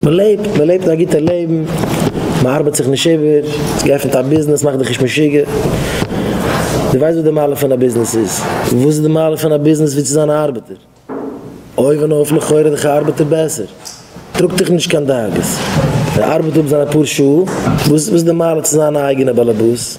מען לעבט, מען לעבט א גוטע לעבן, מען ארבעט זיך נישט איבער, האסט געעפנט א ביזנעס, מאך דיך נישט משוגע, דו ווייסט וואס די מעלה פון א ביזנעס איז? וואס איז די מעלה פון א ביזנעס ווי צו זיין א ארבעטער? אויבן אויף לכאורה איז דאך א ארבעטער בעסער, טראגט דיך נישט קיין דאגות, ער ארבעט אפ זיינע פאר שעה, וואס איז די מעלה צו זיין א אייגענע באלעבאס?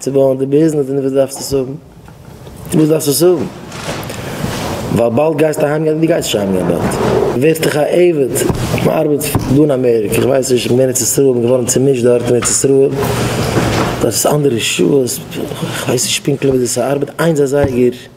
צו בויען די ביזנעס אין וואס דארפסטו עס האבן אין וואס דארפסטו עס האבן ווייל באלד גייסטו אהיים גיין דו גייסט נישט אהיים גיין באלד ווערט דיך א עבד מען ארבעט דא אין אמעריקע איך ווייס נישט איך בין אין ארץ ישראל בין געווארן צומישט דארט אין ארץ ישראל דארט איז אנדערע שעות איך ווייס נישט פונקטליך ווי אזוי ס'ארבעט איינס איז זייער גער.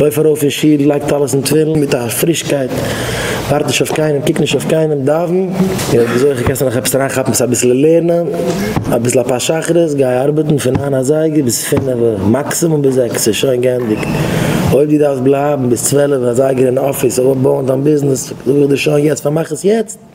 לויף ארויף אין שול, לייג טלית און תפילין מיט א פרישקייט, ווארט נישט אויף קיינעם, קוק נישט אויף קיינעם, דאווען, און אויב די זוכה קענסטו נאך עפעס אריינכאפן צו אביסל לערנען, אביסל אפאר שחרית, גיי ארבעטן פון ניין אזייגער ביז פינעווע, מאקסימום ביז זעקס איז שוין גענדיגט, אויב די דארפסט בלייבן ביז צוועלף אזייגער אין אפיס אדער אויפבויען דיין ביזנעס, זאג איך דיר שוין יעצט פארמאך עס יעצט.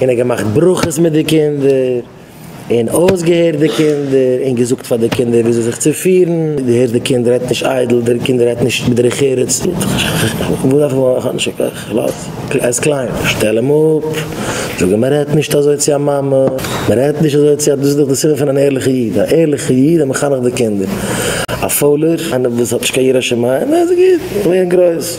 און ער האט געמאכט ברכות מיט די קינדער, און אויסגעהערט די קינדער, און געזאגט פאר די קינדער וויאזוי זיך צו פירן, דו הערסט די קינד רעדט נישט איידל, די קינד רעדט נישט בדרך ארץ, ער איז קליין, שטעל אים אפ, זאג אים מען רעדט נישט אזוי צו א מאמע, מען רעדט נישט אזוי צו א, דאס איז דאך די סימן פון אן ערליכע איד, א ערליכע איד וועט מחנך די קינדער, א פוילער, איינער וואס האט נישט קיין יראת שמים, איז גוט, לערן גרויס.